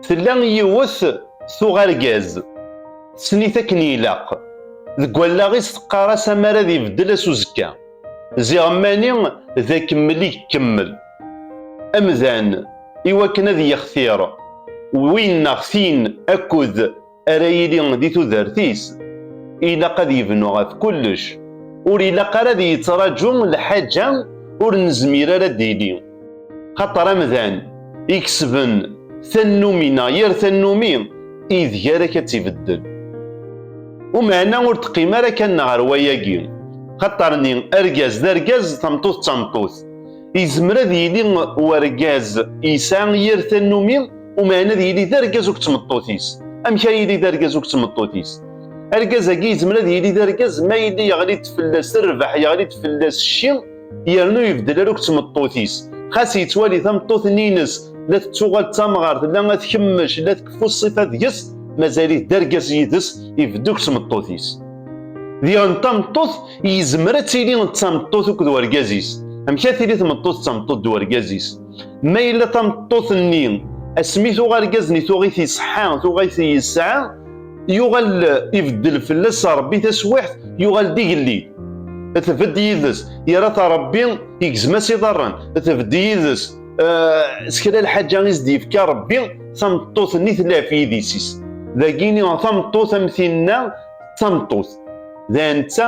Tella yiwet tuɣ argaz, tessen-it akken ilaq. Deg wallaɣ-is teqqar-as amar ad ibeddel ass uzekka. Ziɣ mani d akemmel i ikemmel. Amdan, iwakken ad yextir win neɣ tin akud, ara yili di tudert-is, ilaq ad yebnu ɣef kullec. Ur ilaq ara ad yettraǧu lḥaǧa ur nezmir ara ad d-tili. Xaṭer amdan ikesben tannumi neɣ yir tannumi ideg ara ak ad tt-ibeddel. Umeɛna ur teqqim ara kan ɣer wayagi. Xaṭer-nni argaz d argaz, tameṭṭut d tameṭṭut. Yezmer ad yili urgaz yesɛa yir tannumi, Umeɛna ad yili d argaz akked tmeṭṭut-is. Amek ara yili d argaz akked tmeṭṭut-is? Argaz-agi yezmer ad yili d argaz ma yili yeɣli-d fell-as rrbeḥ, yeɣli-d fell-as cci, yernu yebdel ara akked tmeṭṭut-is. Xas yettwali tameṭṭut-nni-ines la tettuɣal d tamɣart, la ad tkemmec, la tkeffu ṣṣifa deg-s, mazal-it d argaz yid-s, ibeddu akked tmeṭṭut-is. Diɣen tameṭṭut yezmer ad tili d tameṭṭut akked urgaz-is. Amek ara tili tmeṭṭut d tameṭṭut d urgaz-is? Ma yella tameṭṭut-nni asmi tuɣ argaz-nni tuɣ-it iṣeḥḥa, tuɣ-it yesɛa, yuɣal ibeddel fell-as Rebbi taswiḥt, yuɣal d igelli. Tbedd yid-s, yerra-t Rebbi, igzem-as iḍarren, tbedd yid-s, s kra lḥaǧa i s-d-yefka Rebbi, tameṭṭut-nni tlaf yidis-is. Dagini tameṭṭut am tinna d tameṭṭut. D netta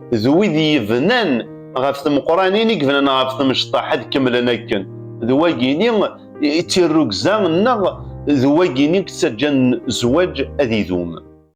d wid yebnan ɣef tmeqranin i yebnan ɣef temecṭaḥ ad kemmlen akken d wagini i tirrugza nneɣ d wagini yettaǧǧan zzwaǧ ad idum.